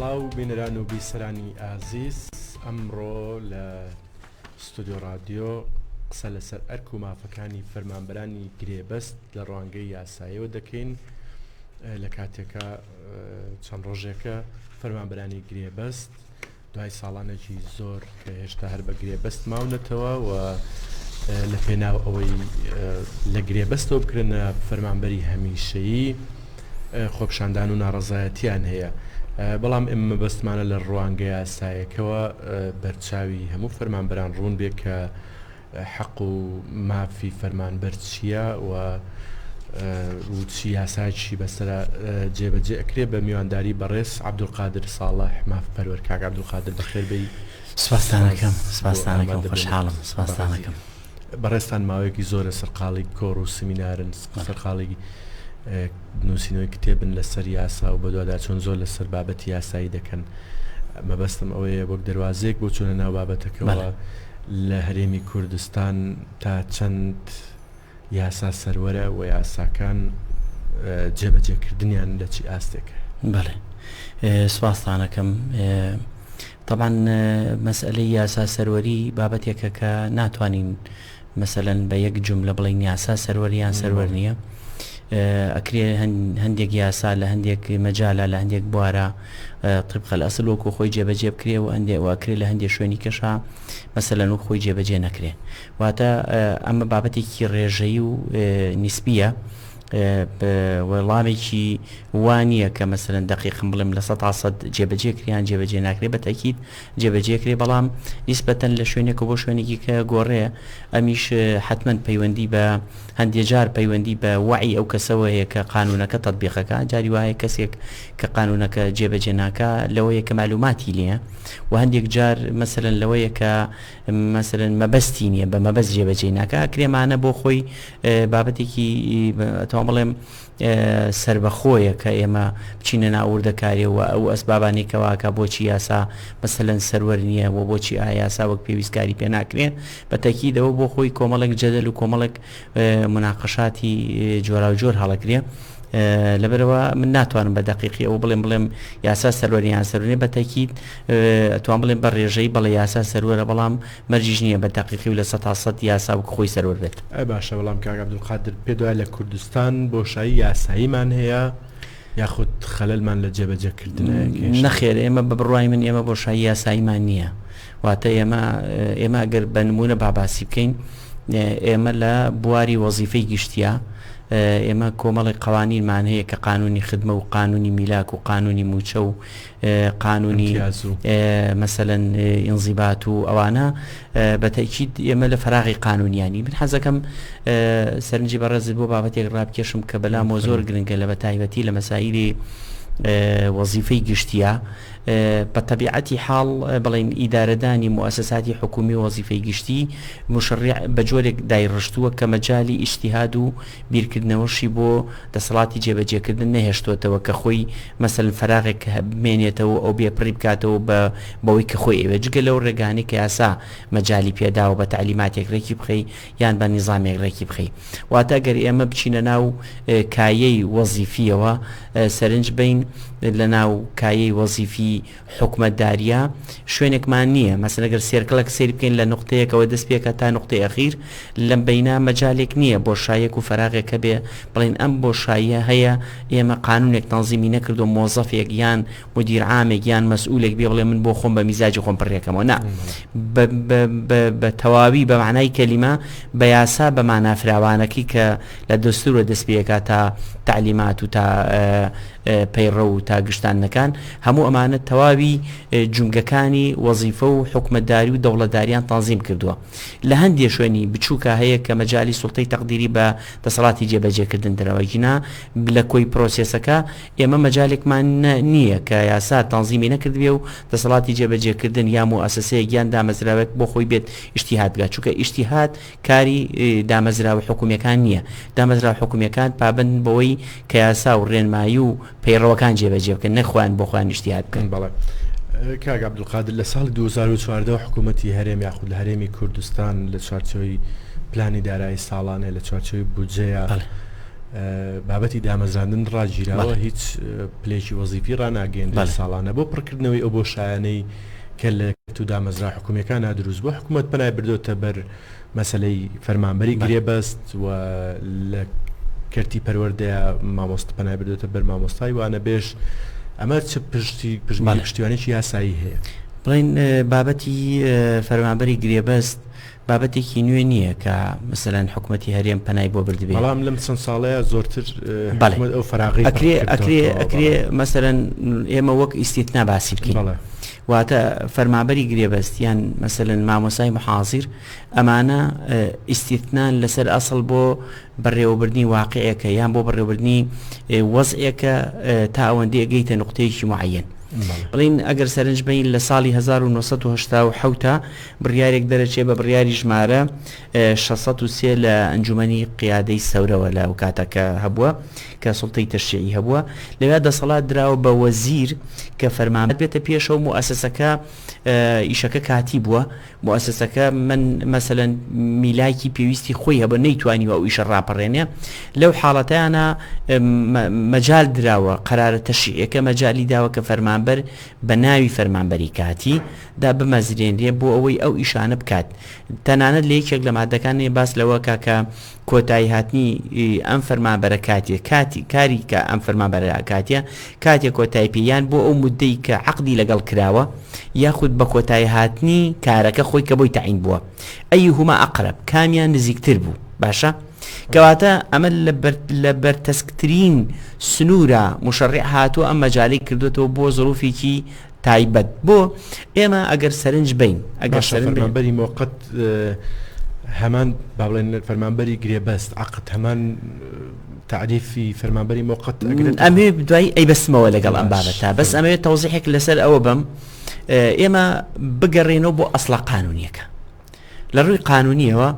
سڵاو بینران و بیسەرانی ئازیز ئەمڕۆ لە ستودیۆ رادیۆ قسە لەسەر ئەرک و مافەکانی فەرمانبەرانی گرێبەست لە ڕوانگەی یاسایەوە دەکەین لە کاتێکە چەند ڕۆژێکە فەرمانبەرانی گرێبەست دوای ساڵانێکی زۆر کە هێشتا هەر بە گرێبەست ماونەتەوە و لە پێناو ئەوەی لە گرێبەستەوە بکرێنە فەرمانبەری هەمیشەیی خۆپشاندان و ناڕەزایەتیان هەیە بەڵام ئێمە مەبەستمانە لە ڕوانگە یاسایەکەوە بەرچاوی هەموو فەرمانبەران ڕوون بێ کە حەق و مافی فەرمانبەر چییە و و چ یاسایەکیشی بەسەرا جێبەجێ ئەکرێ بە میوانداری بەڕێز عەبدولقادر ساڵح مافپەروەر کاک عەبدولقادر بەخێر بێی سوپاستانەکەم سوپاستانەکەم خۆشحاڵم سوپاستانەکەم بەڕێزتان ماوەیەکی زۆرە سەرقاڵی کۆڕ و سمینارن سەرقاڵی نوسینەوەی کتێبن لەسەر یاسا و بەدواداچوون زۆر لەسەر بابەتی یاسایی دەکەن مەبەستم ئەوەیە وەک دەواازەیەک بۆ چونە ناو بابەتەکەەوە لە هەرێمی کوردستان تا چەند یاسا سەروەرە و یاساکان جێبەجێکردنیان لە چی ئاستێکە بەڵێ سوپاسانەکەم طبعاان مەسئلەی یاسا سەروەری بابەتێکە کە ناتوانین مەسەلەن بە یەک جوملە بڵێین یاسا سەروەر یان سەروەر نییە ئەکرێ هەندێک یاسا لە هەندێک مەجالا لە هەندێک بوارە طبقە لە ئەسل وەکو خۆی جێبەجێ بکرێ و ئەندێ واکرێ لە هەندێک شوێنی کەشا مەسەلەن و خۆی جێبەجێ نەکرێ واتە ئەمە بابەتێکی ڕێژەی و نسبیە وەڵامێکی وانە کە مەسەرەن دقیقم بڵێم لە سە تاسەد جێبەجێ کریان جێبەجێ ناکرێ بە تاکیید جێبەجێ کرێ بەڵام نیسبەتەن لە شوێنێکەوە بۆ شوێنێکی کە گۆڕێ ئەمیش حەتمەن پەیوەندی بە هەندێ جار پەیوەندی بە وەعی ئەو کەسەوە هەیە کە قانوونەکە تەتبیق ئەکا جاری وا هەیە کەسێک کە قانوونەکە جێبەجێ ناکا لەوەیە کە مەعلووماتی نییە و هەندێک جار مەسەلەن لەوەیە کە مەسەلەن مەبەستی نییە بە مەبەست جێبەجێی ناکا کرێمانە بۆ خۆی بابەتێکی ئەتوان بڵێم سەربەخۆیە کە ئێمە بچینە ناو وردەکاریەوە ئەو ئەسبابانەی کەواکە بۆچی یاسا مەسەلەن سەروەر نییە و بۆچی ئایا یاسا وەک پێویست کاری پێ ناکرێ بە تەکیدەوە بۆ خۆی کۆمەڵێک جەدەل و کۆمەڵێک مناقەشاتی جۆرا و جۆر هەڵەکرێ لەبەرەوە من ناتوانم بە دقیقی ئەو بڵێم بڵێم یاسا سەروەریان سەرونێ بە تەکیت ئەتوان بڵێن بە ڕێژەی بەڵێ یاسا سەروەرە بەڵام مەرجیش نیە بە دەقیقی و لە سەد تا سەد یاسا وەک خۆی سەروەر بێت. ئەی باشە بەڵام کاک عبدالقادر پێت وایە لە کوردستان بۆشایی یاساییمان هەیە یاخود خەلەلمان لە جێبەجێ کردنە کێشە؟ نەخێر ئێمە بە بڕوای من ئێمە بۆشایی یاساییمان نییە واتە ئێمە ئێمە گەر بە نمونە باباسی بکەین ئێمە لە بواری وەزیفەی گشتیە ئێمە کۆمەڵی قوانینمان هەیە کە قانونی خدمە و قانونی میلاک و قانونی موچە و قانونی امتیاز و مەسەلەن ئینزیبات و ئەوانە بە تەکید ئێمە لە فراغی قانونیانی من حەزەکەم سەرنجی بەڕێزت بۆ بابەتێک ڕابکێشم کە بەلامەوە زۆر گرنگە لە بە تایبەتی لە مەسایلی وەزیفەی گشتیە بە تەبیعەتی حاڵ بڵین ئیدارەدانی موسساتی حکومی وەزیفەی گشتی مشڕ بە جۆرێک دایڕشتووە کە مەجای ئیشتیهاد و بیرکردنەوەشی بۆ دەسەڵاتی جێبەجێکردن نەهێشتۆتەوە کە خۆی مەسەلەن فەراغێک بمێنێتەوە و ئەو بێپڕی بکاتەوە بە بەوەی کە خۆی ئەوێ جگە لەو ڕێگانەی کە یاسا مەجالی پێداوە بە تەعلیماتێک ڕێکی بخەی یان بە نیزامێک ڕێکی بخەی واتە گەر ئێمە بچینە ناو کایەی وەزیفیەوە سەرنج بین لە ناو کایەی وەزیفی حکومەتداریە شوێنێکمان نیە مەسەلەن گەر سێرکڵەک سەیر بکەین لە نوقتەیەکەوە دەست پێکا تا نوقتەی ئەخیر لەم بەینا مەجالێک نیە بۆشایەک و فەراغێک هەبێ بڵێن ئەم بۆشاییە هەیە ئێمە قانونێک تەنزیمی نەکردوە مۆزەفێک یان مدیر عامێک یان مەسئولێک بێ بڵێ من بۆ خۆم بە میزاجی خۆم پڕێکەمەوە نا بە تەواوی بە معنای کەلیمە بە یاسا بە مانافراوانەکەی کە لە دەستورە دەست پێکا تا تعلیمات و تا پەیڕە و تا گشتانەکان هەموو ئەمانە تەواوی جومگەکانی وەزیفە و حکومەتداری و دەوڵەتداریان تەنزیم کردووە. لە هەندێ شوێنی بچووکا هەیە کە مەجالی سوڵتەی تەقدیری بە دەسەڵاتی جێبەجێکردن درا وەگینا لە کۆی پرۆسێسەکە ئێمە مەجالێکمان نییە کە یاسا تەنزیمی نەکردبێ و دەسەڵاتی جێبەجێکردن یا موئەسەسەیەک یان دامەزراوەیەک بۆ خۆی بێت ئیشتیهاد بکا چونکە ئیشتیهاد کاری دامەزراوە حکومیەکان نییە، دامەزراوە حکومیەکان پابەندن بەوەی کە یاسا و ڕێنمایی و پەیڕەوەکان جێبەجێ بکەن نەک خۆیان بۆ خۆیان ئیجتیهاد بکەن. بەڵێ کاک عەبدولقادر، لە ساڵی دوو هەزار و چواردە حکوومەتی هەرێم یاخود لە هەرێمی کوردستان لە چوارچێوەی پلانی دارایی ساڵانێ لە چوارچێوەی بودجەیە بابەتی دامەزراندن ڕاگیراوە هیچ پلێکی وەزیفی ڕناگەێنرێت ساڵانە بۆ پڕکردنەوەی ئەو بۆ شایانەی کە لە یەکێتی و دامەزرا حکومیەکانا دروست بوو حکومەت پەنای بردۆتە بەر مەسەلەی فەرمانبەری گرێبەست و لە کەرتی پەروەردەیا مامۆست پەنای بردۆتە بەر مامۆستای وانە بێژ ئەمە چ پشتی پشتیوانێکی یاسایی هەیە بڵین بابەتی فەرمانبەری گرێبەست بابەتێکی نوێ نییە کە مەسەلەن حکومەتی هەرێم پەنای بۆ بردبێ. بەڵام لەم چەند ساڵەیە زۆرتر حکومەت ئەو فەراغەی پەخش کردووە. ئەکرێ ئەکرێ ئەکرێ مەسەلەن ئێمە وەک ئیستیتنا باسی بکەین. بەڵێ. واتە فەرمانبەری گرێبەست یان مەسەلەن مامۆستای محازیر ئەمانە ئیستیتنان لەسەر ئەسڵ بۆ بەڕێوەبردنی واقعێکە یان بۆ بەڕێوەبردنی وەزعێکە تا ئەوەندی ئەگەیتە نقطەیەکی معەن بڵین ئەگەر سەرنج بین لە ساڵی 1970 بڕیارێک دەرەچێ بە بڕیاری ژمارە 16 لە ئەنجومی قیادەی سەورەوە لە کاتەکە هەبووە کە سڵتەی تەشیعی هەبووە لەوێ دەسەڵات دراوە بە وەزیر کە فەرمانبێتە پێشەوە و ئەسەسەکە ئیشەکە کاتی بووە موئەسەسەکە من مەسەلەن میلاکی پێویستی خۆی هەبە نەیتوانیوە ئەو ئیشە ڕاپەڕێنێ لەو حاڵەتیانە مەجال دراوە قەرارە تەشیعەکە مەجای داوە کە فەرمانبەر بە ناوی فەرمانبەری کاتی دا بمەزرێنرێ بۆ ئەوەی ئەو ئیشانە بکات تەنانەت لە یەکێک لە مادەکانی باس لەوە کاکە کۆتاییهاتنی ئەم فەرمانبەرە کاتیە کاتی کاری کە ئەم فەرمانبەرە کاتیە کاتێک کۆتای پێ یان بۆ ئەو مدەی کە عقدی لەگەڵ کراوە یاخود بە کۆتای هاتنی کارەکە خۆی کە بۆی تعین بووە ئەی هما ئەقرب کامیان نزیکتر بوو باشە کەواتە ئەمە لە بەرتەسکترین سنوورە مشڕع هاتووە ئەم مەجای کردوێتەوە بۆ زروفێکی تایبەت بۆ ئێمە ئەگەر سەرنج بین ئەگەر سەرمەبەری مۆقت هەمان با بڵێن فەرمانبەری گرێبەست عقت هەمان تعریفی فەرمانبەری مۆقت ئەمێ دوای ئەی بەسمەوە لەگەڵ ئەم بابەتە بەس ئەمەوێت تەوزیحێک لەسەر ئەوە بم ئێمە بگەڕێنەوە بۆ ئەسڵە قانونیەکە لە ڕووی قانونیەوە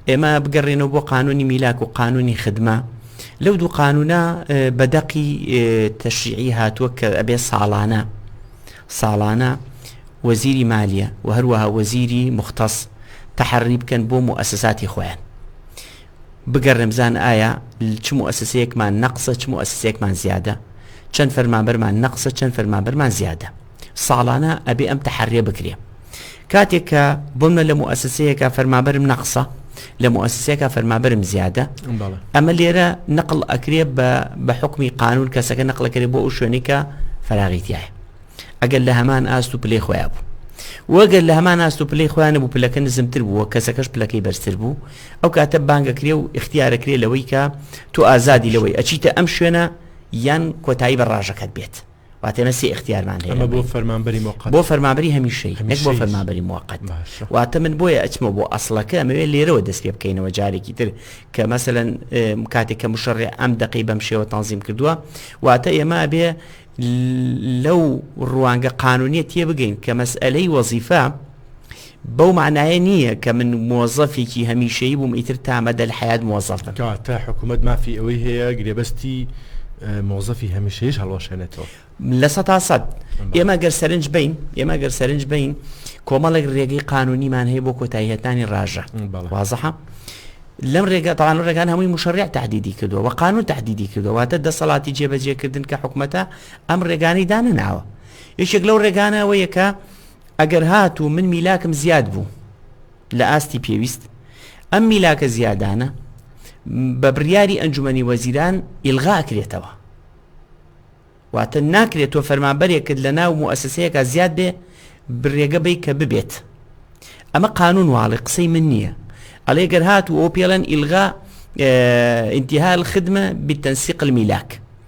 ئێمە بگەڕێنەوە بۆ قانونی میلاک و قانونی خدمە لەو دوو قانونە بە دەقی تەشیعی هاتووە کە ئەبێ ساڵانە ساڵانە وەزیری مالیە و هەروەها وەزیری مختەس تەحڕی بکەن بۆ موئسساتی خۆیان بگەڕێم زان ئایا چ موئسسەیەکمان نەقسە چ موئسسێکمان زیادە چەند فەرمانبەرمان نەقسە چەند فەرمانبەرمان زیادە ساڵانە ئەبێ ئەم تەحەرێ بکرێ کاتێک کە بۆمە لە موسسەیەەکە فەرمابرم نەقسە لە موسسەکە فەرمابرم زیادە ئەمە لێرە نقل ئەکرێ بە بە حکمی قانون کەسەکە نقلەکرێ بۆ ئەو شوێنێکە فراغیتیایە ئەگەر لە هەمان ئاست و پلەی خۆیان بوو وەگەر لە هەمان ئاست و پلەی خۆیان بوو پلەکە نزمتر بووە کەسەکەش پلەکەی بەرزتر بوو ئەو کاتە بانگەکرێ و اختیارەکرێ لەوەی کە تۆ ئازادی لەوەی ئەچیتە ئەم شوێنە یان کۆتایی بە ڕژەکەت بێت واتە نە سێ ئختیارمان هەیە بۆ فەرمانبەری مۆقات بۆ فەرمابری هەمیشەی نەک بۆ فەرمابری موقت واتە من بۆیە ئەچمە بۆ ئەسڵەکە ئەمەوێت لێرەوە دەست پێ بکەینەوە جارێکی تر کە مەسەەن کاتێک کە مشڕێ ئەم دقی بەم شێوە تەنزیم کردووە واتە ئێمە بێ لەو ڕوانگە قانونیە تێ بگەین کە مەسئلەی وەزیفە بەو مانایە نییە کە من مۆزەفێکی هەمیشەیی بووم ئیتر تا مەدەل حەیات مۆزەف بم. کەواتە حکوومەت مافی ئەوەی هەیە گرێبەستی مۆزەفی هەمیشەییش هەڵوەشێنێتەوە؟ لە سەدا سەد. ئێمە گەر سەرنج بین ئێمە گەر سەرنج بین کۆمەڵێک ڕێگەی قانونیمان هەیە بۆ کۆتاییهتانی ڕژە وازەحە. لەم ڕێگە تاان و ڕێگان هەمووی مشڕێک تهدیدی کردو و قانون تهدیدی کردوواتە دەسەڵاتی جێبەجێکردن کە حکوومەتە ئەم ڕێگانی دانەناوە یەکێک لەو ڕێگانەوە یەکە ئەگەر هاتوو من میلاکم زیاد بوو لە ئاستی پێویست ئەم میلاکە زیادانە بە بڕیاری ئەنجومی وەزیران ئیلغا ئەکرێتەوە واتە ناکرێت تۆ فەرمانبەرێکت لە ناو موسسەیەەکە زیاد بێ برێگە بی کە ببێت ئەمە قانون واڵی قسەی من نییە ئەڵێ گەر هات و ئەو پێڵەن ئیلغا ئینتیهال خدمە بتەنسیقل میلاک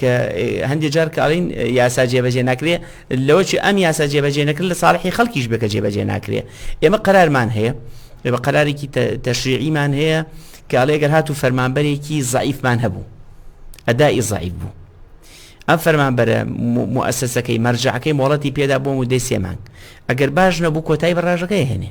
کە هەندێ جار کە ئەڵێن یاسا جێبەجێ ناکرێ لەوە چ ئەم یاسا جێبەجێ نەکرد لە ساڵحی خەڵکیش بێکە جێبەجێ ناکرێ ئێمە قەرارمان هەیە بە قەرارێکی تەشریعیمان هەیە کە ئەڵێگەر هات و فەرمانبەرێکی زعیفمان هەبوو ئەدای زعیف بوو ئەم فەرمانبەرە موسسەکەی مەرجعەکەی مۆڵەتی پێدا بۆ مدەی سێمانگ ئەگەر باش نەبوو کۆتای بەڕژەکەی هێنێ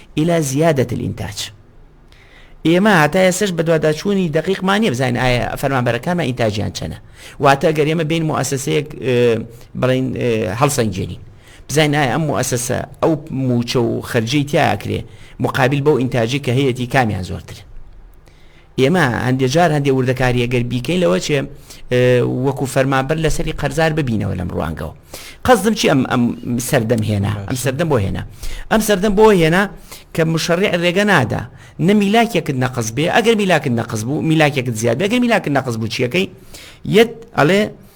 الی زیادە الانتاج ئێمە هەتا ئێستەش بەدواداچوونی دەقیقمان نیە بزانین ئایا فەرمانبەرەکانمان ئینتاجیان چەنە واتە گەر ئێمە بین موسسەیەک بڵین هەڵسەنگێنین بزانین ئایا ئەم موسسە ئەو موچە و خەرجی تیاکرێ مقابل بەو ئینتاجی کە هەیەی کامیان زۆرتر ئێمە هەندێ جار هەندێ وردەکاریە گەر بیکەین لەوە چێ وەکو فەرمانبەر لەسەری قەرزار ببینەوە لەم ڕوانگەوە قەزم چی ئەم ئەم سەردەم هێنا ئەم سەردەم بۆ هێنا ئەم سەردەم بۆ هێنا کە مشەڕی ڕێگە نادا نە میلاکێکت نەقز بێ ئەگەر میلاکت نەقز بوو میلاکێکت زیاد بێگەر میلاکت نەقز بوو چیەکەی یەت ئەڵێ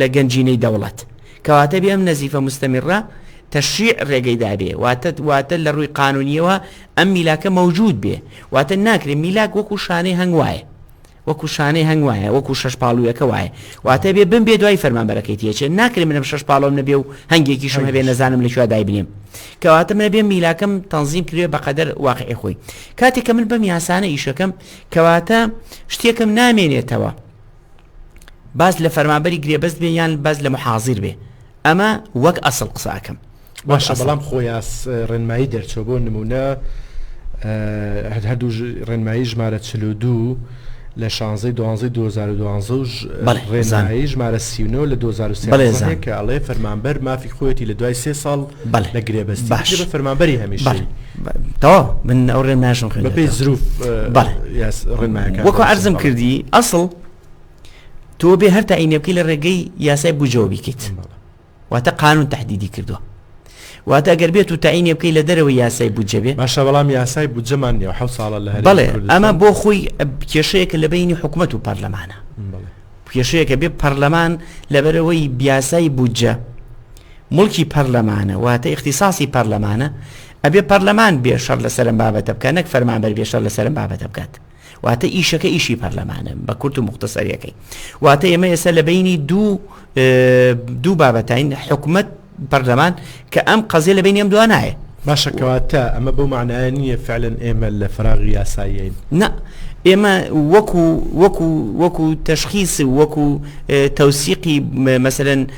لە گەنجینەی دەوڵەت کەواتە بێ ئەم نەزیفە مستەمیڕە تەشریع ڕێگەی دابێ واتە واتە لە ڕووی قانونیەوە ئەم میلاکە مەوجود بێ واتە ناکرێت میلاک وەکو شانەی هەنگ وایە وەکو شانەی هەنگ وایە وەکو شەش پاڵویەکە وایە واتە بێ بم بێ دوای فەرمانبەرەکەی تێچێ ناکرێت منم شەش پاڵۆم نەبێ و هەنگێکیشم هەبێ نەزانم لە شووا دایبنێم کەواتە منە بێ میلاکەم تەنظیم کرێ بەقەدەر واقعی خۆی کاتێک کە من بەم یاسانە ئیشەکەم کەواتە شتێکم نامێنێتەوە باز لە فەرمانبەری گرێبەست بێ یان باز لە محازیر بێ ئەمە وەک ئەسڵ قساکەم باشە بەڵام خۆیاس ڕێنمایی دەرچوە بۆ نمونە هەر هەردوو ڕێنمایی ژمارە چل و دوو لە شانزەی دوانزەی 2012 ڕێزانایی ژمارە سیونەوە لە 2013 کە ئەڵێ فەرمانبەر مافی خۆیەتی لە دوای سێ ساڵ بەڵێ لە گرێبەستی باش بە فەرمانبەری هەمیشەی تەواو من ئەو ڕێنمایشم خوێن بەپێی زروف بەڵێ ڕێنمایەکە وەکو عەرزم کردی ئەسڵ تۆ بێ هەر تاینێ بکەی لە ڕێگەی یاسای بجەوە بیکەیت واتە قانون تهدیدی کردووە واتە گەر بێت و تاینێ بکەی لە دەرەوە یاسای بجەبێ باشە بەڵام یاسای بجەمان نیە حە ساڵە لە بڵێ ئەمە بۆ خۆی کێشەیەکە لە بینی حکوومەت و پەرلەمانە کێشەیەکە بێ پەرلەمان لەبەرەوەی بیاسای بودجە موڵکی پەرلەمانە واتە ئیختیساسی پەرلەمانە، ئەبێ پەرلەمان بێ شەڕ لەسەر ئەم بابەتە بکات نەک فەرمانبەر بێ شەر لەسەر ئەم بابەتە بکات. واتە ئیشەکە ئیشی پەرلەمانە بە کورت و مختصریەکەی. واتە ئێمە ئێستا لە بینی دوو دوو بابەتین حکومت پەرلەمان کە ئەم قەزیە لە بینی ئەم دوانایە. باشەکەواتە ئەمە بەو معناە نییە فعلەن ئێمە لە فراغی یاسایین نە ئێمە وەکو وەکو وەکو تەشخیس وەکو تەوسیقی مەسەن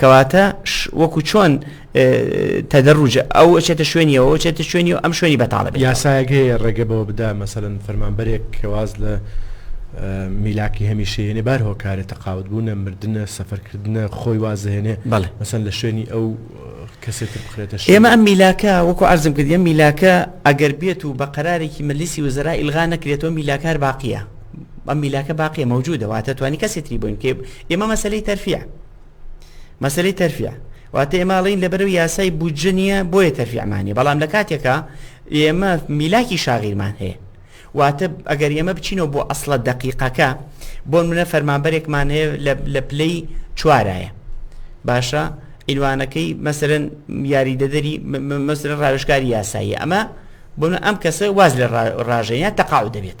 کەواتە وەکو چۆن تەدەڕوج ئەو چێتە شوێنیەوە چێتە شوێنی و ئەم شوێنی بەتاڵە یاسایەک هەیە ڕێگە بەوە بدا مەسەن فەرمانبەرێک کەواز لە میلاکی هەمیشەیەێ بار هۆکارە تەقاوت بوونە مردە سەفەرکردە خۆی وازهێنێ بەڵێ مەسەن لە شوێنی ئەو کەسێتر بخرێتە ئێمە ئەم میلاکە وەکو ئارزم کردیم میلاکە ئەگەر بێت و بە قەرارێکی مەلیسی وزرا ئیلغا نەکرێتەوە میلاکار باقیە ئەم میلاکە باقیە مەوجودە واتە توانی کەسی تری بووین کێ ئێمە مەسلەی تەرفیع مەسلەی تەرفیع واتە ئێماڵین لەبەرو یاسای بودجە نییە بۆیە تەرفیعمانی بەڵام لە کاتێکە ئێمە میلاکی شاغیرمان هەیە واتە ئەگەر ئێمە بچینەوە بۆ ئەسڵە دقیقەکە بۆ منە فەرمانبەرێکمان هەیە لە پلەی چوارایە باشە ئیلوانەکەی مەسەرەن یاریدەدەری مەسرە ڕاوشکاری یاسایی ئەمە بۆ ئەم کەسە واز لە ڕاژەیە تەقاو دەبێت.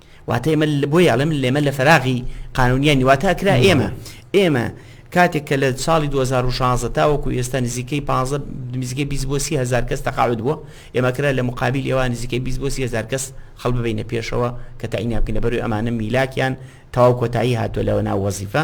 واتە ئێمە بۆی ئەڵێم لێمە لە فەراغی قانونیانی واتە ئەکرا ئێمە ئێمە کاتێک کە لە ساڵی 2016 تاوەکو ئێستا نزیکەی 15 نزیکە 20 بۆ 30 هزار کەس تەقاعد بووە ئێمەکرا لە مقابل ئێوە نزیکە 20 بۆ 30 هزار کەس خەڵ ببینە پێشەوە کە تایناکەینە بەروی ئەمانە میلاکیان تاو کۆتایی هاتووە لەوە ناو وەزیفە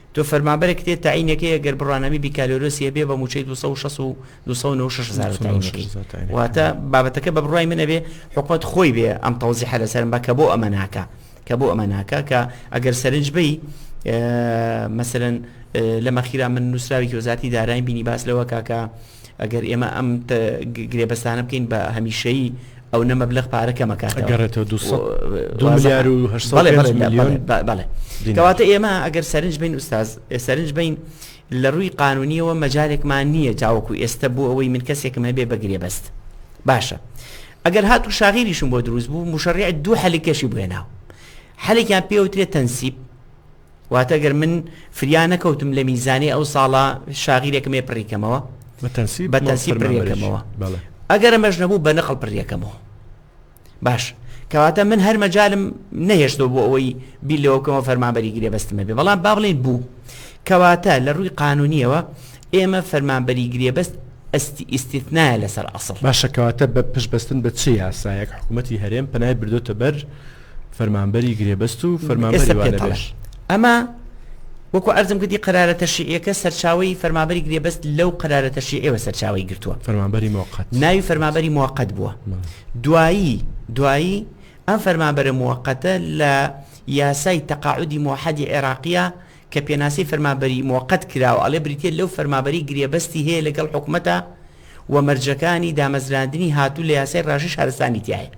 تۆ فەرمانبەرێک تێت تەعینەکەی ئەگەر بڕوانامەی بیکالۆرۆسی هەبێ بە مووچەی دوو سەد و شەست و دوو سەد و نەوەد و شەش هەزارە تەعینەکەی واتە بابەتەکە بە بڕوای من ئەبێ حکومەت خۆی بێ ئەم تەوزیحە لەسەرم بە کە بۆ ئەمە ناکا کە بۆ ئەمە ناکا کە ئەگەر سەرنج بی مەسەرەن لە مەخیرا من نووسراوێکی وەزارەتی دارایم بینی باس لەوە کاکە ئەگەر ئێمە ئەم گرێبەستانە بکەین بە هەمیشەیی ئەو نە مەبلغ پارە کەمەکاتەگەڕێتەوە دوسەڵێکەواتە ئێمە ئەگەر سەرنج بین ئوستاز سەرنج بین لە ڕووی قانونیەوە مەجارێکمان نییە تاوەکو ئێستا بوو ئەوەی من کەسێکم هەبێ بەگرێ بەست باشە ئەگەر هات و شاغیریشم بۆ دروست بوو مشڕی دوو حەلکەشی بێناو حەلێکیان پێوترێت تەنسیب واتە گەر من فریا نەکەوتم لە میزانەی ئەو ساڵە شاغیرێکم هەیە پڕیکەمەوە بە تەنسیب بە تەنسیب پڕیەکەمەوە بەڵێ ئەگەر ئەمەش نەبوو بە نەقڵ پڕیەکەمەوە باش کەواتە من هەر مەجالم نەهێشتەوە بۆ ئەوەی بیر لەوە بکەمەوە فەرمانبەری گرێ بەستمە بێ بەڵام با بڵێن بوو کەواتە لە ڕووی قانونیەوە ئێمە فەرمانبەری گرێبەست ئەستی ئیسیتنایە لەسەر ئەسڵ باشەکەواتە بە پشبەستن بە چی یاسایەک حکوومەتتی هەرێم پەنای بردۆتە بەر فەرمانبەری گرێبەست و فەرمانبەری والەبێژ. ئەمە وەکو عەرزم کردی قەرارە تەشریعیەکە سەرچاوەی فەرمانبەری گرێبەست لەو قەرارە تەشریعیەوە سەرچاوەی گرتووە. فەرمانبەری موقت. ناوی فەرمانبەری موقت بووە. دوایی دوایی ئەم فەرمانبەرە موقتە لە یاسای تەقاعودی موحدی عێراقیە کە پێناسەی فەرمابەری موقت کراوە ئەڵێ بریتیە لەو فەرمابەری گرێبەستی هەیە لەگەڵ حکومەتە و مەرجەکانی دامەزراندنی هاتوو لە یاسای ڕاژەی شارستانی تیایە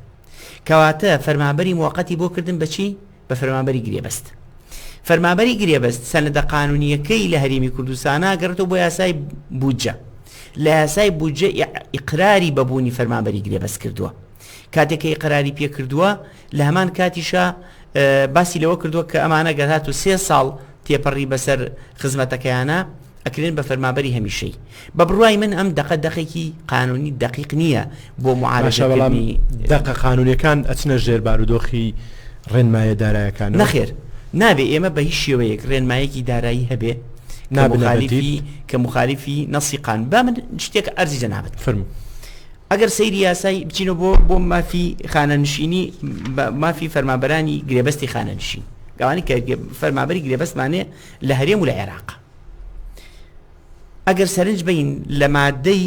کەواتە فەرمابەری موقتی بۆ کردن بەچی بە فەرمابەری گرێبەست فەرمابەری گرێبەست سەنەدە قانونیەکەی لە هەرێمی کوردستانە گەڕێتەوە بۆ یاسای بودجە لە یاسای بودجە ئیقراری بەبوونی فەرمابەری گرێبەست کردووە کاتێک کە ئیقراری پێ کردووە لە هەمان کاتیشە باسی لەوە کردووە کە ئەمانە گەر هات و سێ ساڵ تێپەڕی بەسەر خزمەتەکەیانە ئەکرێن بە فەرمابەری هەمیشەی بە بڕای من ئەم دقە دقێکی قانونی دقیق نییە بۆ معاالشەڵامی دقە قانونەکان ئەچنە ژێر بارودۆخی ڕێنمایە دارایەکان نەخێر نابێ ئێمە بە هیچ شێوەیەک ڕێنمایەکی دارایی هەبێ نابنالیفی کە مخالیفی نەسیقان با من شتێک ئەرزی جەنابەت فرم. ئەگەر سەیری یاسای بچینە بۆ بۆ مافی خانەنشینی مافی فەرمابەرانی گرێبەستی خانەنشین گەوانی کە فەرمابەری گرێبەستمانێ لە هەرێم و لە عێراق ئەگەر سەرنج بین لە مادەی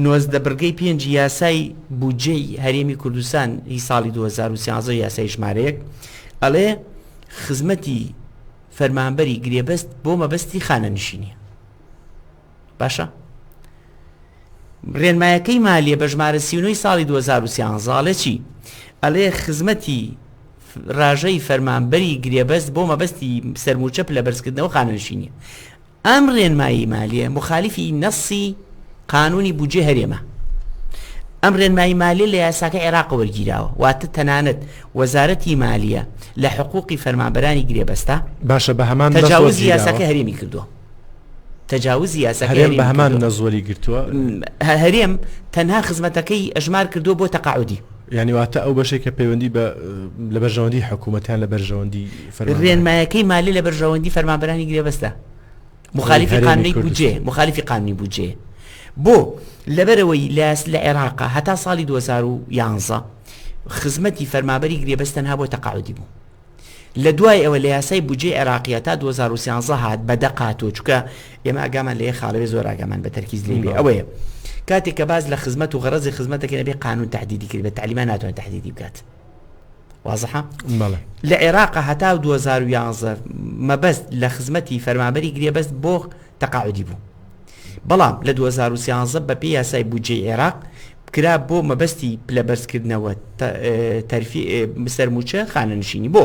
نۆزدە بڕگەی پێنج یاسای بودجەی هەرێمی کوردستان هی ساڵی 2013 یاسای ژمارەیەک ئەڵێ خزمەتی فەرمانبەری گرێبەست بۆ مەبەستی خانەنشینی باشە ڕێنمایەکەی مالیە بە ژمارە سیونەی ساڵی 2013 چی ئەلێ خزمەتی ڕژەی فەرمانبەری گرێبەست بۆ مەبەستی سەرموچە پلە بەرزکردنەوە خانەنشینی ئەم ڕێنمایی مالیە مخالیفی نەسی قانونی بجێ هەرێمە ئەم ڕێنمایی مالی لە یاساکە عێراق وەرگیراوە واتە تەنانەت وەزارەتی مالیە لە حقوقی فەرمانبەرانی گرێبەستا باشە بە هەمان تەجاوز یاساکە هەرێمی کردووە تەجاوزی یاساکەی هەرێم کردووە، هەرێم بەهەمان نەز وەریگرتووە، هەرێم تەنها خزمەتەکەی ئەژمار کردووە بۆ تەقاعودی. یانی واتە ئەو بەشێک کە پەیوەندی بە لە بەرژەوەندی حکوومەتیان لە بەرژەوەندی رێنمایەکەی مالی لە بەرژەوەندی فەرمانبەرانی گرێبەستە مخالیفی قانونی بودجێ مخالیفی قانونی بودجێ بۆ لەبەرەوەی لاس لە عێراقا هەتا ساڵی 2011 خزمەتی فەرمابەری گرێبەستەنها بۆ تەقاعدی بوو لە دوای ئەوە لە یاسای بودجەی عێراقیە تا 2013 هات بە دەق هاتووە چکە ئێمە ئاگامان لە یە خاڵەوێ زۆر ئاگامان بە تەرکیز لێ بێ ئەوەیە کاتێک کە باز لە خزمەت و غەرەزی خزمەتەکەێ بێ قانون تهدیدی کرد بە تعلیمان ناتوان تهدیدی بکات وازحە لە عێراق هەتا 2011 مەبەست لە خزمەتی فەرمابەری گرێبەست بۆ تەقاعدی بوو بەڵام لە دوو هەزار و سیانزە بەپێی یاسای بودجەی عێراق کرا بۆ مەبەستی پلەبەرزکردنەوە تەرفی سەرموچە خانەنشینی بۆ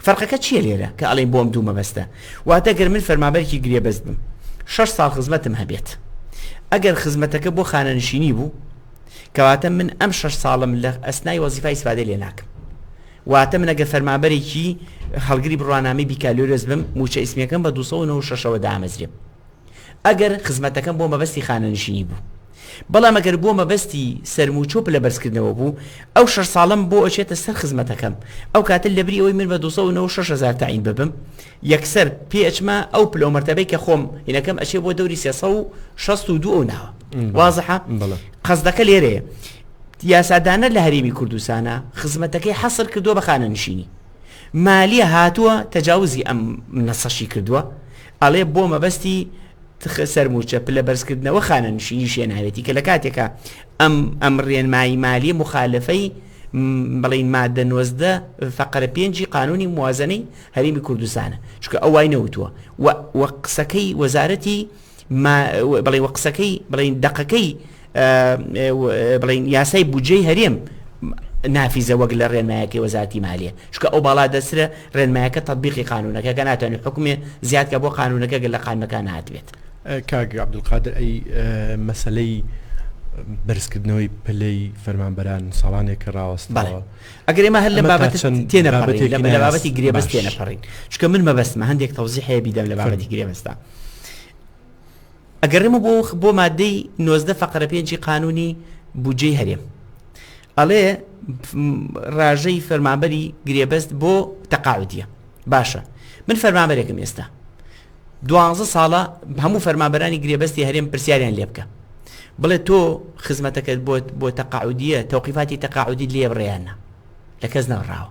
فەرقەکە چییە لێرە کە ئەڵێن بۆم دوو مەبەستە واتە گەر من فەرمابەرکی گرێبەست بم شەش ساڵ خزمەتم هەبێت ئەگەر خزمەتەکە بۆ خانەنشینی بوو کەواتە من ئەم شەش ساڵم لە ئەسنای وەزیفای سوادە لێ ناکەم واتە من ئەگەر فەرمابەرێکی هەڵگری بڕوانامی بیکالۆرس بم موچە ئیسمەکەم بە 1996ەوە دامەزرێم ئەگەر خزمەتەکەم بۆ مەبەستی خانەنشینی بوو. بەڵام گەر بۆ مەبەستی سەرمووچە و پلەبەرزکردنەوە بوو، ئەو شەش ساڵەم بۆ ئەچێتە سەر خزمەتەکەم، ئەو کاتە لەبری ئەوەی من بە دوو سەد و نەوەد و شەش هەزار تەعین ببم، یەکسەر پێ ئەچمە ئەو پلە و مەرتەبەی کە خۆم هینەکەم ئەچێ بۆ دەوری سێ سەد و شەست و دوو ئەو ناوە. وازحە؟ قەسدەکە لێرەیە یاسادانەر لە هەرێمی کوردستانە خزمەتەکەی حەسر کردووە بە خانەنشینی. مالیە هاتووە تەجاوزی ئەم نەسەشی کردووە، ئەڵێ بۆ مەبەستی تخ سەرمووچە پلە بەرزکردنەوە خانەنشینی شێناوێتی کە لە کاتێکا ئەم ئەم ڕێنمایی مالی مخالفەی بڵین مادە نۆزدە فقرە پێنجی قانونی موازنەی هەرمی کوردستانە چکە ئەو وای نەوتووە و قسەکەی وەزارەتی بڵێ وە قسەکەی بڵین دقەکەی بڵین یاسای بودجەی هەرێم نافیزە وەک لە ڕێنمایەکەی وەزارتی مالیە چکە ئەو باڵا دەسرە ڕێنمایەکە تطببیقی قانونەکە کە ناتوانێت حکومێ زیاد کە بۆ قانونەکە گەل لە قانمەکان ناتبێت کاک عبدقادر ئەی مەسلەی بەرزکردنەوەی پلەی فەرمانبەران ساڵانێک کە ڕاوەست ئەگەر ئمە هەر لە بابەت تێنە لە بابەتی گرێبەست تێنەپەڕین چکە من مەبەستمە هەندێک تەوزی هەیە بیدەم لە بابەتی گرێبەستا. ئەگەڕێمە بۆ بۆ مادەی نۆزدە فەقرە پێنجی قانونی بودجەی هەرێم ئەڵێ ڕاژەی فەرمانبەری گرێبەست بۆ تەقاعدیە باشە من فەرمانبەرێکم ئێستا دوانزە ساڵە هەموو فەرمانبەرانی گرێبەستی هەرێم پرسیاریان لێ بکە بڵێ تۆ خزمەتەکەت بۆت بۆ تەقاعدیە تەوقیفاتی تەقاعدی لێ بڕیانە لە کەس ناڕاوە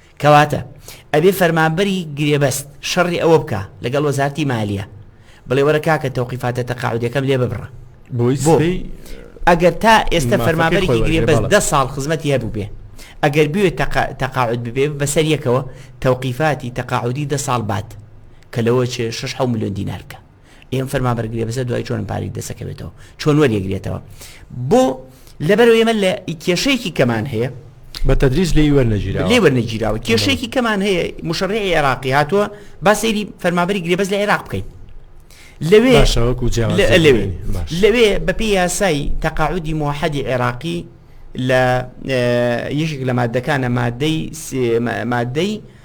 کەواتە ئەبێ فەرمانبەری گرێبەست شەڕی ئەوە بکا لەگەڵ وەزارتی مالیە بڵێ وەرە کاکە تەوقیفاتە تەقاعودیەکەم لێ ببڕە بۆ ئەگەر تا ئێستا فەرمانبەرێکی گرێبەست دە ساڵ خزمەتی هەبوو بێ ئەگەر بوێت تەقاعد ببێ بەسەر یەکەوە تەوقیفاتی تەقاعودی دە ساڵ بات کە لەوە چێ 6 ملیۆن دینارکە ئێ ئەم فەرمانبەر گرێبەستە دوای چۆن پارەی دەسەکەوێتەوە چۆن وەریەگرێتەوە بۆ لەبەرو ئێمە لە کێشەیەکی کەمان هەیە بە تدریس لێی وەرنەگیرا لێ وەرنەگیراوە کێشەیەکی کەمان هەیە مشڕی عێراقی هاتووە با سەیری فەرمابری گرێبەز لە عێراق بکەیت لەوێ لەوێ لەوێ بەپی یاسایی تەقاعودی مۆحەدی عێراقی لە یەکێک لە مادەکانە مادەی مادەی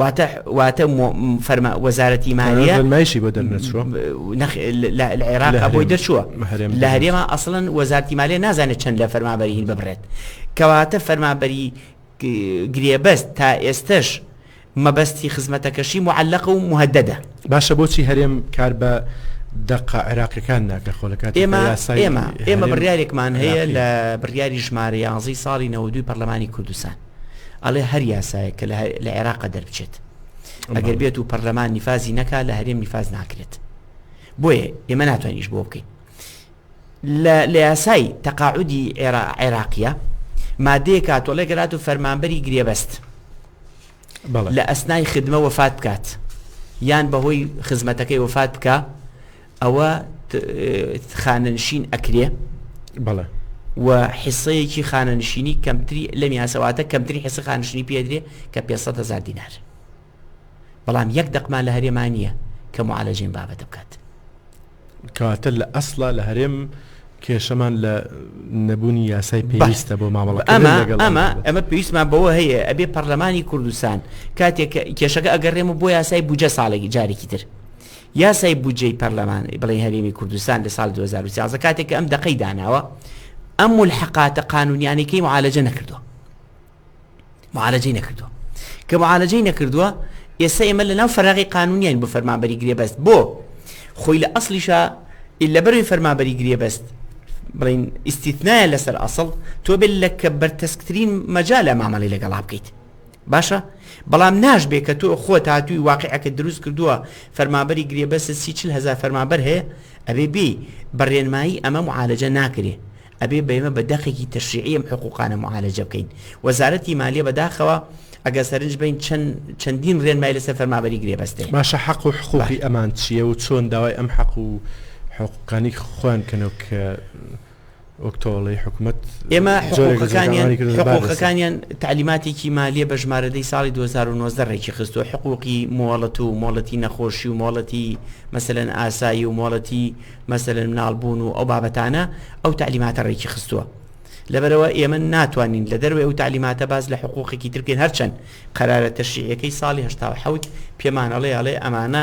واتە واتە فەرما وەزارەتی مالیە فەرمایشی بۆ دەرنەچوە لە عێراق بۆی دەچووە لە هەرێمە ئەسڵەن وەزارتی مالیە نازانێت چەند لە فەرمابەری هین ببرێت کەواتە فەرمابەری گرێبەست تا ئێستش مەبەستی خزمەتەکەشی معلق و مهددە باشە بۆچی هەرێم کار بە دەقا عێراقیەکان ناکە خۆلەکات ئێمە ئێمە ئێمە بڕارێکمان هەیە لە بڕیاری ژمارە یانزی ساڵی نەوەدوی پەرلەمانی کوردستان ئەڵێ هەر یاسایە کە لە عێراق دەربچێت ئەگەر بێت و پەرلەمان نیفازی نەکا لە هەرێم نیفاز ناکرێت بۆیە ئێمە ناتوانیش بۆ بکەین لە یاسای تەقاعودی عێراقیە مادەیە کاتۆڵێ گەرات و فەرمانبەری گرێبەست لە ئەسنای خدمە وەفات بکات یان بەهۆی خزمەتەکەی وەفات بکە ئەوە خانەنشین ئەکرێ بەڵێ و حسەیەکی خانەنشینی کەمتری لەم یاسەواتە کەمتری حسە خانشنی پێدرێ کە پێ هزار دینار بەڵام یەک دەقمان لە هەرێمان نییە کە معالەجین بابەتە بکات کەواتە لە ئەسڵا لە هەرێم کێشەمان لە نەبوونی یاسای پێویستە بۆ مامەڵە ئەمە ئەمە ئەمە پێویستمان بەوە هەیە ئەبێ پەرلەمانی کوردستان کاتێک کێشەکە ئەگەڕێمە بۆ یاسای بجە ساڵێکی جارێکی تر یاسای بودجەی پەرلەمان، بڵێی هەرێمی کوردستان لە ساڵی دوو هەزار و سیازدە کاتێک کە ئەم دەقەی داناوە ئەم مولحقاتە قانونیانەی کەی معالەجە نەکردووە معالەجەی نەکردووە کە معالەجەی نەکردووە ئێستا ئێمە لە ناو فەراغی قانونیان بۆ فەرمانبەری گرێبەست بۆ خۆی لە ئەسلیشە لە بەروی فەرمانبەری گرێبەست بڵین ئیسیتنایە لەسەر ئەسڵ تۆ بێت لە کە بەرتەسکترین مەجا لە مامەڵی لەگەڵا بکەیت باشە بەڵام ناشبێ کە تۆ خۆت هاتووی واقعەکە دروست کردووە فەرمابەری گرێبەست سی چل هەزار فەرمابەر هەیە ئەبێ بێ بە ڕێنمایی ئەمە معالەجە ناکرێ ئەبێ بەێمە بە دەقێکی تەشریعیم حقوقانە معالەجە بکەین وەزارەتی مالیە بەداخەوە ئەگە سەرنج بین چەند چەندین ڕێنمای لەسەر فەرمابەری گرێبەستێ باشە حەق و حقوقی ئەمان چییە و چۆن داوای ئەم حەق و حقوقانی خوێن کەنەوە کە وەک تۆڵەی حکومت ئێمە حقوقەکانیان حقوقەکانیان تعلیماتێکی مالیە بە ژمارەدەی ساڵی 2009 ڕێکی خستووە حقوقی مۆڵەت و مۆڵەتی نەخۆشی و مۆڵەتی مەسەن ئاسایی و مۆڵەتی مەسەن مناڵبوون و ئەو بابەتانە ئەو تعلیماتە ڕێکی خستووە لەبەرەوە ئێمە ناتوانین لە دەروێ ئەو تعلیماتە باز لە حقوقێکی ترکن هەرچەند قەرارە تەشیعەکەی ساڵی هشتا حوت پێمانەڵێ ئەڵێ ئەمانە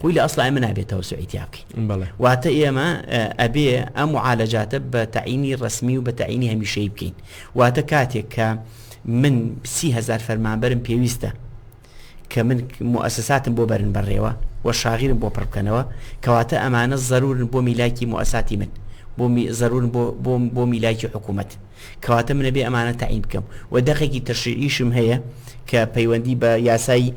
خۆی لە ئەسڵا ئێمە نابێ تەوسوعی تیا بکەین بەڵێ واتە ئێمە ئەبێ ئەم معالەجاتە بە تەعینی ڕسمی و بە تەعینی هەمیشەی بکەین واتە کاتێک کە من سی هزار فەرمانبەرم پێویستە کە من مؤسساتم بۆ بەرن بەڕێوە و شاغیرم بۆ پڕبکەنەوە کەواتە ئەمانە ضرورن بۆ میلاکی مؤسساتی من بۆ ضرورن بۆ بۆ میلاکی حکوومەت کەواتە من ئەبێ ئەمانە تەعین بکەم و دەقێکی تەشریعیشم هەیە کە پەیوەندی بە یاسای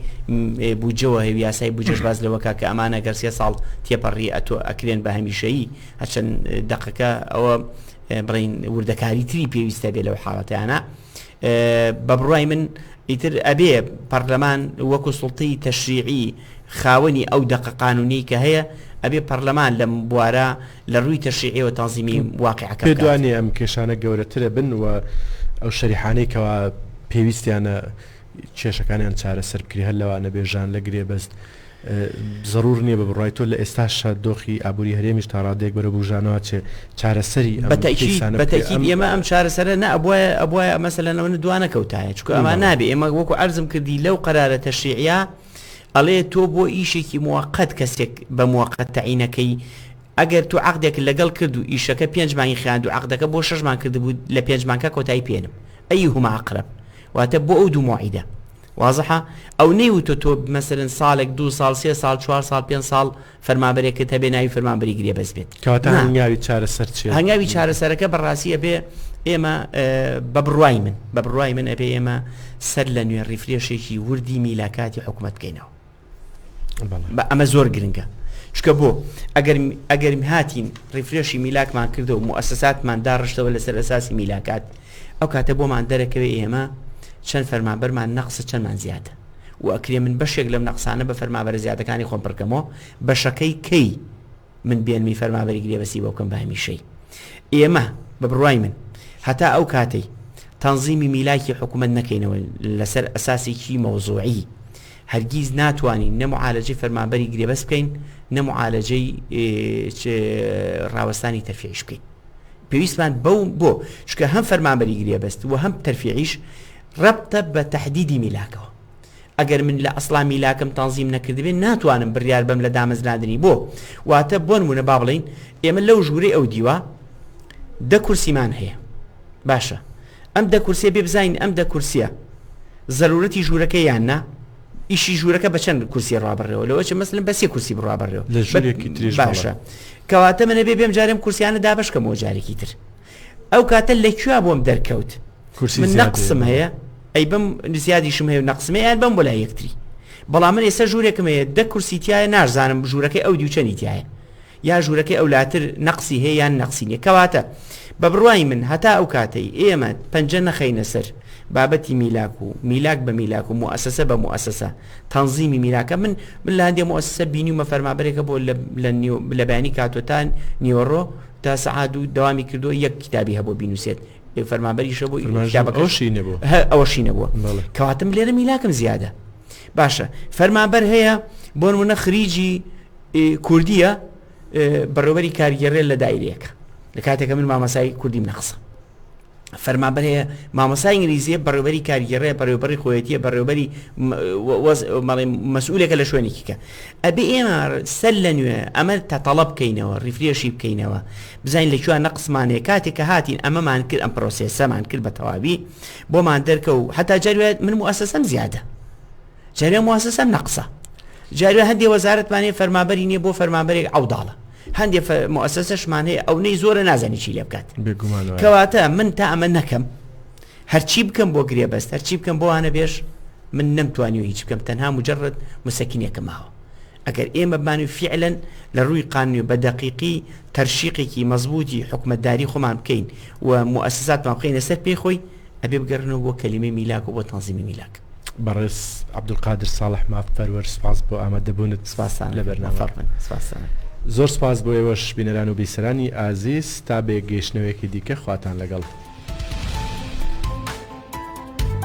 بودجەوە هەیە یاسای بودجەش باز لەوە کا کە ئەمانە گەر سێ ساڵ تێپەڕی ئەتۆ ئەکرێن بە هەمیشەیی هەرچەند دەقەکە ئەوە بڕین وردەکاری تری پێویستە بێ لەو حاڵەتیانە بە بڕای من ئیتر ئەبێ پەرلەمان وەکو سڵتەی تەشریعی خاوەنی ئەو دەقە قانونی کە هەیە ئەبێ پەرلەمان لەم بوارە لە ڕووی تەشریعی و تەنزیمی واقیعەکە بکات. پێتوانێ ئەم کێشانە گەورەتر بن و ئەو شەریحانەی کەوا پێویستیانە کێشەکانیان چارەسەر بکرێ هەر لەوانە بێ ژان لە گرێبەست زەرور نییە بە بڕای تۆ لە ئێستاشا دۆخی ئابووری هەرێمیش تا ڕادێک بەرە بژانەوە چێ چارەسەری ئێمە ئەم چارەسەرە نە ئەبواە ئەبواە مەسەلەنەوە دوانە کەوتایە چکە ئەمە نابێ ئێمە وەکو ئەرزم کردی لەو قەرارە تەشریعە ئەڵێ تۆ بۆ ئیشێکی موەقەت کەسێک بە موەقەت تەعین ئەکەی ئەگەر تۆ عەقدێکت لەگەڵ کرد و ئیشەکە پێنج مانگی خایاند و عەقدەکە بۆ شەش مانگ کردبوو لە پێنج مانگە کۆتایی پێنم ئەیهما ئەقرەب واتە بۆ ئەو دوو موعیدە وازحە ئەو نەیوتۆ تۆ مەسەرن ساڵێک دوو ساڵ سێ ساڵ چوار ساڵ پێنج ساڵ فەرمانبەرێکت هەبێ ناوی فەرمانبەری گرێبەست بێت کەواتە نا. هەنگاوی چارەسەر چیە؟ هەنگاوی چارەسەرەکە بەڕاستی ئەبێ ئێمە ئه، بە بڕوای من بە بڕوای من ئەبێ ئێمە سەر لە نوێ ڕیفرێشێکی وردی میلاکاتی حکوومەت بکەینەوە بەڵێ. بە ئەمە زۆر گرنگە شکە بۆ ئەگەر ئەگەر هاتین ڕیفرێشی میلاکمان کردو و موسساتمان داڕشتەوە لەسەر ئەساسی میلاکات ئەو کاتە بۆمان دەرەکەوێ ئێمە چەند فەرمانبەرمان نەقص چەندمان زیادە و ئەکرێ من بەشێک لەم نەقسانە بە فەرمابەرە زیادەکانی خۆم پڕکەمەوە، بەشەکەی کەی من بێنمی فەرمابەری گرێبەستی بۆ بکەم بە هەمیشەی؟ ئێمە، بە بڕوای من، هەتا ئەو کاتەی تەنزیمی میلاکی حکوومەت نەکەینەوە لەسەر ئەساسێکی مەوزووعی، هەرگیز ناتوانین نە موعالەجەی فەرمانبەری گرێبەست بکەین، نە موعالەجەی ڕاوەستانی تەرفیعیش بکەین. پێویستمان بەو بۆ، چونکە هەم فەرمانبەری گرێبەست و هەم تەرفیعیش، رەبتە بە تەحدیدی میلاکەوە. ئەگەر من لە ئەسڵا میلاکم تەنزیم نەکردبێ ناتوانم بریار بەم لە دامەزراندنی بۆ واتە بۆنمونە با بڵین ئێمە لەو ژوورەی ئەو دیوە دە کورسیمان هەیە باشە ئەم دە کورسێ بێ بزین ئەم دە کورسیە زەرورەتی ژوورەکە یان نا ئیشی ژوورەکە بە چەند کورسی ڕابڕێەوە لەوە چ مەسلم بە سێ کورسی بڕابڕێەوە لە ژوورێکی تریش باشە کەواتە منە بێ بێم جارم کورسیانە دابشکەمەوە جارێکی تر ئەو کاتە لە کوێ بۆم دەرکەوت من نەقسم هەیە ئەی بم زیادیشم هەیە نەقسمێ یان بم بۆ لای یەکتری بەڵام من ئێستا ژوورێکم هەیە دە کورسی تایە نازانم ژوورەکەی ئەو دیوچەنی تایە یا ژوورەکەی ئەو لاتر نەقسی هەیە یان نەقسی نیە کەواتە بە بڕوای من هەتا ئەو کاتەی ئێمە پەنجە نەخەینە سەر بابەتی میلاک و میلاک بە میلاک و موسسە بە موسسە تەنزیمی میراکە من من لاندێ موسسە بینی و مەفەرمابرێکە بۆ لە بلە بەیانی کاتۆتان نیۆڕۆ تا سەعات دوو دەوامی کردو یەک کتابی هەبوو بینوسێت فەرمانبەری شە بوو ئەوشی نەبوو ئەوشی نەبووە کەواتم لێرە میلاکەم زیادە باشە فەرمانبەر هەیە بۆ منە خریجی کوردیە بەڕێوەری کارگەڕێ لە دایرەکە لە کاتێکە من مامەسای کوردیم نەخسە فەرمانبەرەیە، مامۆستای ئینگلیزییە، بەڕێوەبەری کارگێڕێ، بەڕێوەبەڕی خۆیەتییە، بەڕێوەبەری وەز بەڵێ مەسئولێکە لە شوێنێکی کە. ئەبێ ئێمە سەر لە نوێ ئەمە تەتەڵە بکەینەوە، ڕیفرێشی بکەینەوە، بزانین لە کوێ نەقسمان هەیە، کاتێک کە هاتین ئەمەمان کرد ئەم پرۆسێسەمان کرد بە تەواوی بۆمان دەرکە و هەتا جاری وایە من موئەسەسەم زیادە، جاری وایە موئەسەسەم نەقسە، جاری وایە هەندێ وەزارەتمان هەیە فەرمانبەری نییە بۆ فەرمانبەرێک عەوداڵە، هەندێ مؤسسەشمان هەیە ئەو نەی زۆرە نازانی چی لێ بکات کەواتە من تا ئەمە نەکەم هەرچی بکەم بۆ گرێ بەست هەرچی بکەم بۆ هاانە بێش من نەمتوانی و هیچ بکەم تەنها مجرد مسەکینێکە ماوە ئەگەر ئێمە بانی فعلەن لە ڕووی قانونی بە دەقیقی تەرشیقێکی مەزبوتی حکومەتداری خۆمان بکەین و مؤسساتمان بخینە سەر پێی خۆی ئەبێ بگەڕێنەوە بۆ کەلیمەی میلاک و بۆ تەنزیمی میلاک. بەڕێز عەبدولقادر ساڵح مافپەروەر سوپاس بۆ ئامادەبوونت لە بەرنامە. زۆر سوپاس بۆ ئێوەش بینەران و بیسەرانی ئازیز تا بە یەکگەیشتنەوەیەکی دیکە خواتان لەگەڵ.